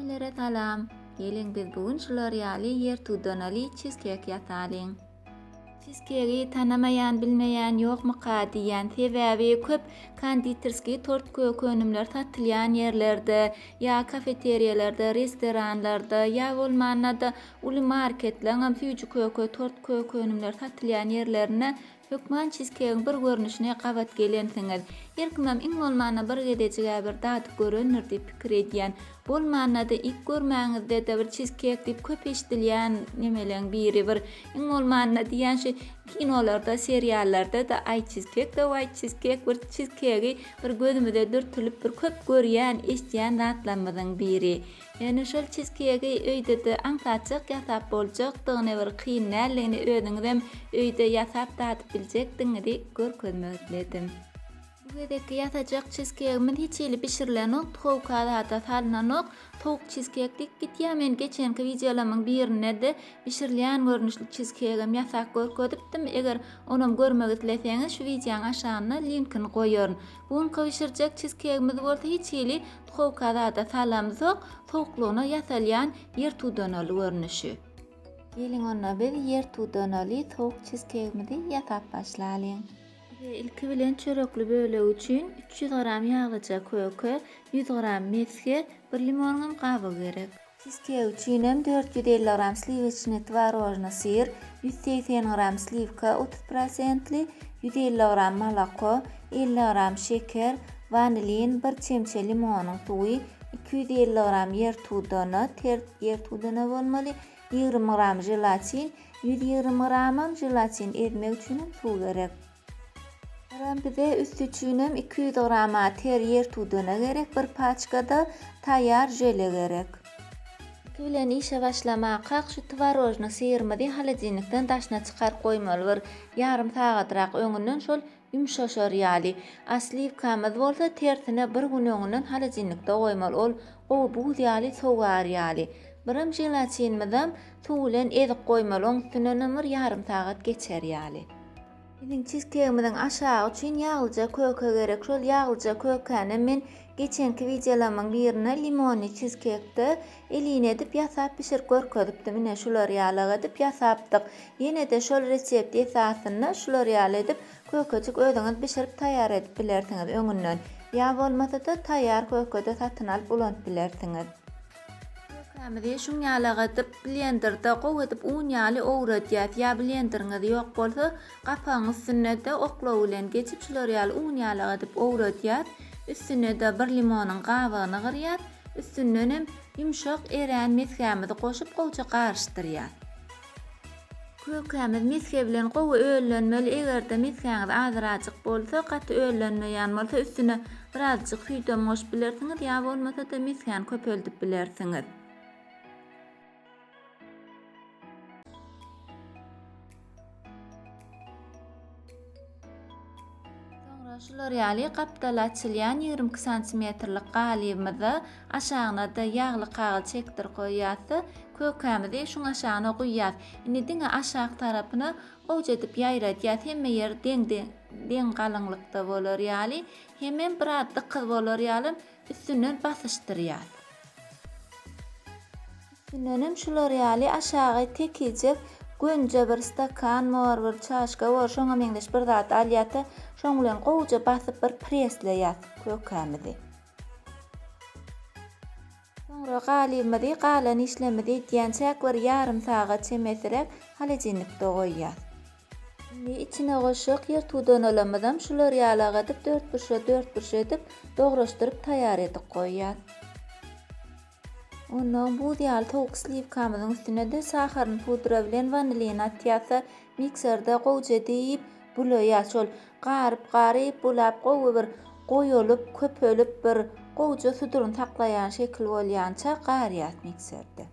Hemmelere salam! Geliň biz bu gün şular ýaly ýer tudanaly çizkek ýasalyň. Çizkegi tanamaýan bilmeýän ýokmyka diýýän sebäbi köp konditerskiý tort köki önümler satylýan ýerlerde ýa kafeteriýalarda restoranlarda ýa bolmanda uly marketleňem süýji köke tort köki önümler satylýan ýerlerinde Hökman çizkegiň bir görnüşine gabat gelensiňiz. Her kimem iň bolmanda bir gezejig-ä bir dadyp görendir diýip pikir edýän. Bolmanda-da iýip görmäňizde-de bir çizkek diýip köp eşidilýän nemeleň biri bir. Iň bolmanda diýýän şu kinolarda, seriallarda-da aý çizkek de waý çizkek bir çizkegi bir gözümize dürtülip bir köp görýän, eşdýän zatlarymyzyň biri. Ýöne şol çizkeýgi öýde-de aňsatjak ýasap boljakdygyny, bir kyn däldigini özüňizem öýde ýasap dadyp biljekdigiňizi görkezmek isledim. Bu gezekki ýasajak çizkeýgimiz hiç hili bişirilenokdy, howka zada salnanok. Towuk çizkeýk diýip gitýär, men geçenki wideolarymyň birinde-de bişirilýän görnüşli çizkeýgim ýasap görkezipdim. Eger onam görmek isleseňiz şu wideoň aşagynda linkini goýaryn. Bu gün gybşyrjak çizkegimiz bolsa hiç hili tuhowka zada salamzok, sowuklygyna ýasalýan ýertudanaly görnüşi. Geliň onda biz ýertudanaly sowuk çizkegimizi ýasap başlalyň. Bize ilki bilen çörekli bölegi üçin üç ýüz gram ýaglyja köke, ýüz gram mesge, bir limonyňam gabygy gerek. Fiskiýa üçin hem dört ýüz elli gram sliweçnyý twarožnyý syr, ýüz segsen gram sliwka otuz prosentli, ýüz elli gram moloko, elli gram şeker, wanilin, bir çemçe limonyň suwy, iki ýüz elli gram ýer tudana, ter ýer tudana bolmaly, ýigrimi gram želatin, ýüz ýigrimi gramam želatin, ezmek üçin hem suw gerek. Ram bize üsti üçinem iki ýüz grama ter ýer tudana gerek bir paçkada taýýar žele gerek. Iki bilen işe başlamakak şu tworojny syrymyzy holodilnikden daşyna çykaryp goýmaly bir ýarym sagatrak öňünden şol ýumşaşar ýaly. A sliwkamyz bolsa tersine bir gün öňünden holodilnikde goýmaly ol gowy buz ýaly sogar ýaly. Biram želatinimizem Suw bilen ezip goýmaly, oň üstünden hem bir ýarym sagat geçer ýaly. Biziň çizkegimiziň aşagy üçin ýaglyja köke gerek. Şol ýaglyja kökäni men geçenki wideolarymyň birinde limonly çizkekde elin edip ýasap bişirip görkezipdim. Ine şular ýalyk edip ýasapdyk. Ýene-de şol resept esasynda şular ýaly edip kökejik özüňiz bişirip taýýar edip bilersiňiz öňünden. Ýa bolmasa-da taýýar köke-de satyn alyp ulanyp bilersiňiz. Kökemizi şuň ýaly agadyp, blenderde gowy edip un ýaly owradýas. Ýa blenderiňiz ýok bolsa, gapagyň üstünde-de oklaw bilen geçip şular ýaly un ýaly agadyp owradýas. Üstüne-de bir limonyň gabygyny gyrýas. Üstündenem ýumşak erän mesgämizi goşup gowja garyşdyrýas. Kökämiz misge bilen gowy öllenmeli, egerde misgäňiz azrajyk bolsa, gaty öllenmeýän bolsa üstüne birazjyk süýdem goşup bilersiňiz ýa bolmasada misgäni köpeldip bilersiňiz. Soňra şular ýaly gapdaly açylýan ýigrimi iki santimetrlik galybymyza aşagyna-da ýagly kagyz çekdirip goýýas-da, kökämizi şuň aşagyna guýýas. Indi diňe aşak tarapyny gowja edip ýaýradýas, hemme ýeri deň-deň galyňlykda bolar ýaly, hemem biraz dykyz bolar ýaly Üstünden basyşdyrýas. Üstündenem şular ýaly aşagy tekijek gönje bir stakan bor, bir çaşka bor, şoňa meňzeş bir zat alýas-da, şoň bilen gowja basyp bir presleýas kökämizi. Soňra galybymyzy galan işlerimizi edýänçäk bir ýarym sagat çemesiräk holodilnikde goýýas. Indi içine goşjak ýyrtuwdanalamyzam şular ýaly agadyp dörtburçla dörtburç edip dograşdyryp taýýar edip goýýan. Ondan buz ýaly sowuk sliwkamyzyň üstünede saharyny pudra bilen wanilini atýarsa mikserde gowja diýip bulaýar şol garyp garyp bulap gowy bir goýulyp köpelip bir gowja suduryny saklaýan şekil bolýança garýas mikserde.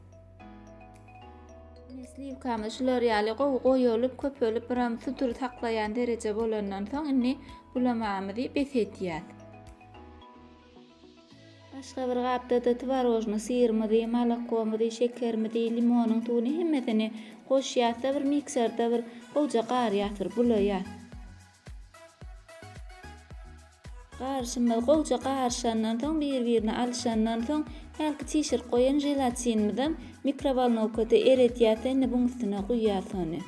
Ine, sliwkamy şular ýaly gowy goýulyp, köpelip, biram sudur saklaýan dereje bolandan soň, indi bulamagymyzy bes edýäs. Başga bir gapda-da tworojnyý syrymyzy, molokomyzy, şekerimizi, limonyň suwuny hemmesini goşýas-da, bir mikserde bir gowja garýas, bir bulaýas. Garyşymyz gowja garyşandan soň, bir-birini alyşandan soň, hälki çişirip goýan želatinimizem mikrowolnowkada eredýäs-de, indi buň üstüne guýýas ony.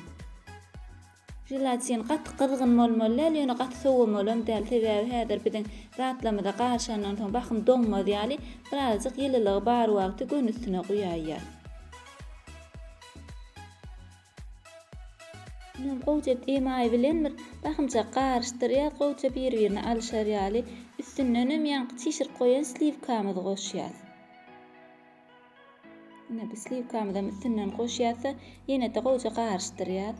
Želatin gaty gyzgyn bolmaly däl, ýöne gaty sowamalam däl, sebäbi häzir biziň zatlarymyza garyşandan soň bahym doňmaz ýaly, birazajyk ýylylygy bar wagty göni üstüne guýaýýas. Muňam gowja emaý bilen bir bahymjak garyşdyrýas, gowja bir-birine alyşar ýaly. Üstündenem ýaňky çişirip goýan sliwkamyzy goşýas. Ine bu sliwkamyzam üstünden goşýas-da, ýene-de gowja garyşdyrýas.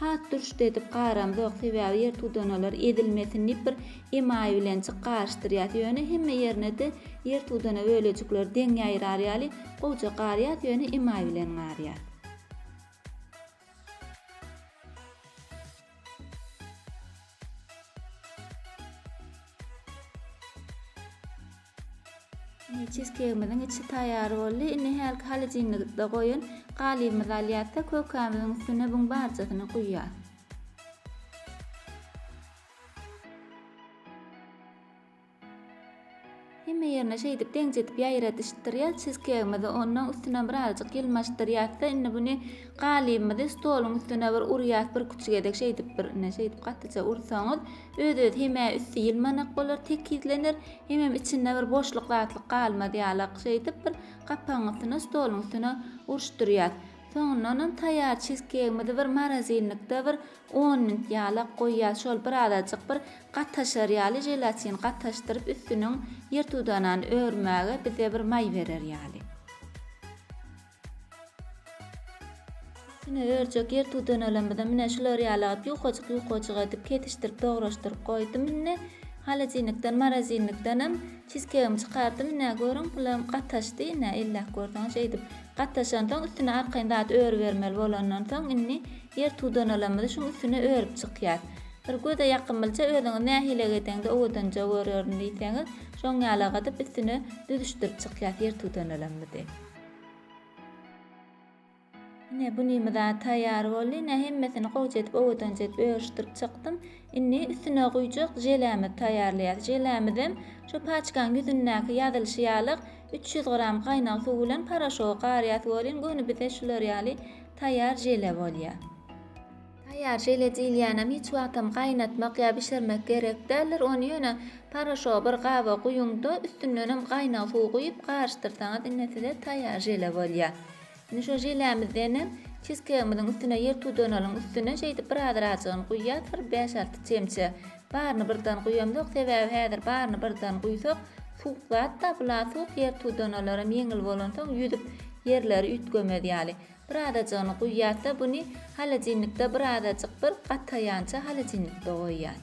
Hat durşda edip garamzok sebäbi ýer tudanalar ezilmesin diýip bir emaý bilen çyk garyşdyrýas ýöne hemme ýerinede ýer tudana bölejikleri deň ýaýrar ýaly gowja garýas ýöne emaý bilen garýas. Ine, çizkeýgimiziň içi taýýar boldy. Indi hälki holodilnikde goýan galybymyzy alýas-da, kökämiziň üstüne buň barjasyny guýýas. Hemme ýerine şeýdip deňzedip ýaýradyşdyrýas çizkeýgimizi. Onnoň üstüne birazajyk ýylmaşdyrýas-da, indi buny galybymyzy stoluň üstüne bir urýas, birküç gezek şeýdip bir, ine, şeýdip gatyja ursaňyz, Öz-özi hem-ä üsti ýylmanak bolar, tekizlener, hemem içinde bir boşluk zatlyk galmaz ýalak. Şeýdip, bir gapagyň üstüne, stoluň üstüne uruşdyrýas. Soňundanam taýýar çizkeýgimizi bir morozinlikde bir on minut ýalak goýýas. Şol birazajyk bir gataşar ýaly, želatin gataşdyryp, üstüniň ýertudanany örmäge bize bir maý berer ýaly. Tüne örjek ýer tudanalaymyzam ine şular ýaly alyp ýukajyk ýukajyk edip kesişdirip dograşdyryp goýdum indi. Holodilnikden morozilnikdenem çizkegimi çykardym ine görüň bulam gataşdy ine elläp görseň şeýdip gataşansoň üstüne arkaýyn zat öribermeli bolandan soň indi ýer tudanalaymyzy şuň üstüne örüp çykýas. Bir göze ýakymlyja özüňiz nähili egedeňde owadanja görerin diýseňiz şoň ýalagydyp üstüne düzüşdirip çykýas ýer tudanalaymyzy. Ine, bu nime zat taýýar boldy. Ine, hemmesini gowja edip, owadança edip örüşdirip çykdym. Indi üstüne guýjak želämizi taýýarlaýarys. Želämizem şu paçkanyň ýüzündäki ýazylyşy ýalyk üç ýüz gram gaýnag suw bilen poroşogy garýas welin, göni bize şular ýaly taýýar žele bolýar. Taýýar žele diýilýänem hiç wagtam gaýnatmak ýa bişirmek gerek däldir, ony ýöne paraşogy bir gaba guýuň-da, üstündenem gaýnag suw guýup garyşdyrsaňyz ine size taýýar žele bolýar. Indi şo želämizdenem çizkegimiziň üstüne ýer tudanalyň üstüne şeýdip bir azrajygyny guýýas bir bäş-alty çemçe. Baryny birden guýamzok, sebäbi häzir baryny birden guýsak suwuk zat-da, bula suwuk ýer tudanalaram ýeňil bolansoň ýüzüp ýerleri üýtgemez ýaly. Bir azajygyny guýýarda buny holodilnikde bir azajyk bir gataýança holodilnikde goýýar.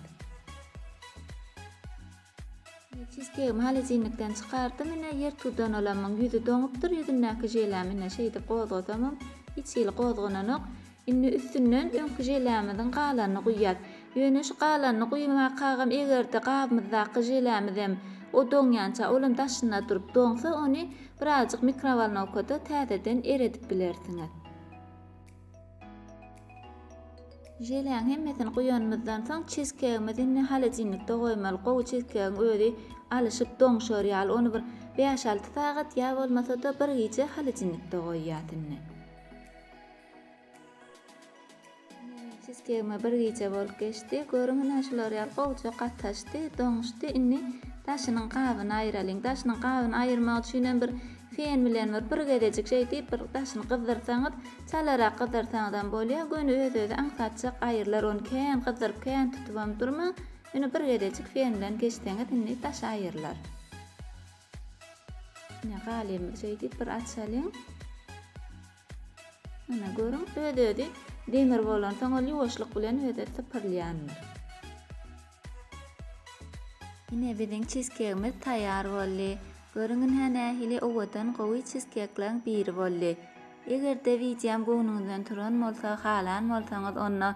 Çizkegimi holodilnikden çykardym ine ýer tudanalamyň ýüzi doňupdyr ýüzündäki želäm ine şeýdip gozgasamam hiç hili gozgananok. Indi üstünden öňki želämiziň galanyny guýýas. Ýöne şu galanyny guýmakagam egerde gabymyzdaky želämizem o doňýança olam daşynda durup doňsa ony Birazjyk mikrowolnokada täzeden eredip bilersiňiz. Želeýäň hemmesini guýanymyzdan soň çizkeýgimizi indi holodilnikde goýmaly. Gowy çizkeýgiň özi alyşyp doňşar ýaly ony bir bäş-alty sagat ýa bolmasa-da bir gije holodilnikde goýýas indi. Sistema bir gije bolup geçdi. Görüň ine şular ýaly gowja gataşdy, doňuşdy. Indi daşynyň gabyny aýyralyň. Daşynyň gabyny aýyrmak üçin hem bir fen bilen bir bir gezejik şeý diýip bir daşyny gyzdyrsaňyz, çalarak gyzdyrsaňyzam bolýar. Göni öz-özi aňsatjak aýrylar. Ony kän gyzdyryp, kän tutubam durmaň. Ýöne bir gezejik fen bilen geçseňiz indi daşy aýrylar. Ine galymy şeý diýip bir açalyň. Ine, görüň, öz-özi demir bolansoň ol ýuwaşlyk bilen öz-özü sypyrylýandyr. Ine, biziň çizkegimiz taýýar boldy. Görüň, ynha nähili owadan, gowy çizkekleriň biri boldy. Eger-de wideom göwnüňizden turan bolsa, halan bolsaňyz, onda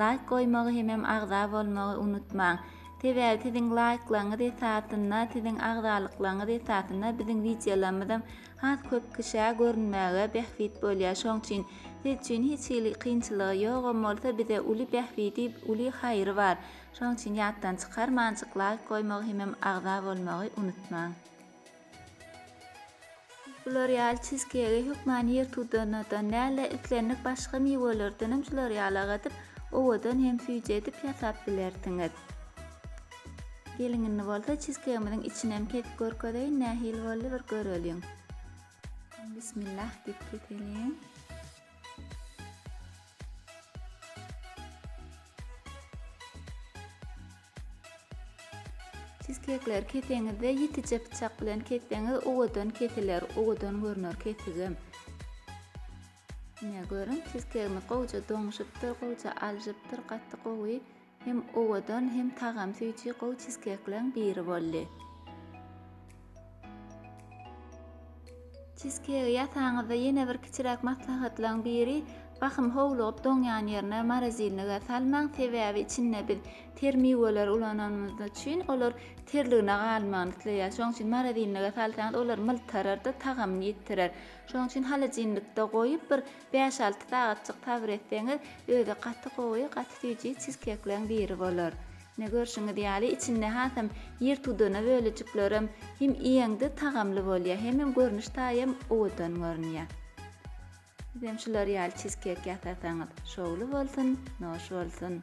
laýk goýmagy hemem agza bolmagy unutmaň. Sebäbi siziň laýklaryňyz esasynda, siziň agzalyklaryňyz esasynda biziň wideolarymyzam Has köp kişä görünmäge bähbit bolýar şoň üçin siz üçin hiç hili kynçylygy ýogam bolsa bize uly bähbidi uly haýry bar şoň üçin ýatdan çykarmanjyk laýk goýmagy hemem agza bolmagy unutmaň. Siz bular ýaly çizkegi hökman ýer tudanadan dälde islendik başga miwelerdenem şular ýaly agadyp owadan hem süýji edip ýasap bilersiňiz. Geliň indi bolsa çizkegimiziň içinem kesip görkezeýin nähili boldy bir göreliň. Bismillah diýip keseliň. Çizkekleri keseňizde ýitije pyçak bilen kesseňiz uwadan kesiler, uwadan görner kesigem. Ine görüň, çizkegimiz gowja doňuşypdyr, gowja aljypdyr, gaty gowy Hem owadan hem tagam süýji gowy çizkekleriň biri boldy. Çizkegi ýasaňyzda ýene bir kiçiräk maslahatlaň biri, bahym howlugyp doňýan ýerine morozilnige salmaň, sebäbi içinde biz ter miweleri ulananymyz üçin olar terligine galmagyny isleýär. Şonuň üçin morozilnige salsaňyz olar myltararda tagamyny ýitirer. Şonuň üçin holodilnikde goýup bir Bäş-alty sagatjyk sabyr etseňiz, özi gaty gowy, gaty süýji çizkekleň biri bolar. Ine, görşüňiz ýaly, içinde hasam ýer tudana bölejiklerem hem iýeňde tagamly bolýar, hemem görnüş taýam owadan görünýär. Sizem şular ýaly çizkek ýasasaňyz, şowly bolsun, noş bolsun!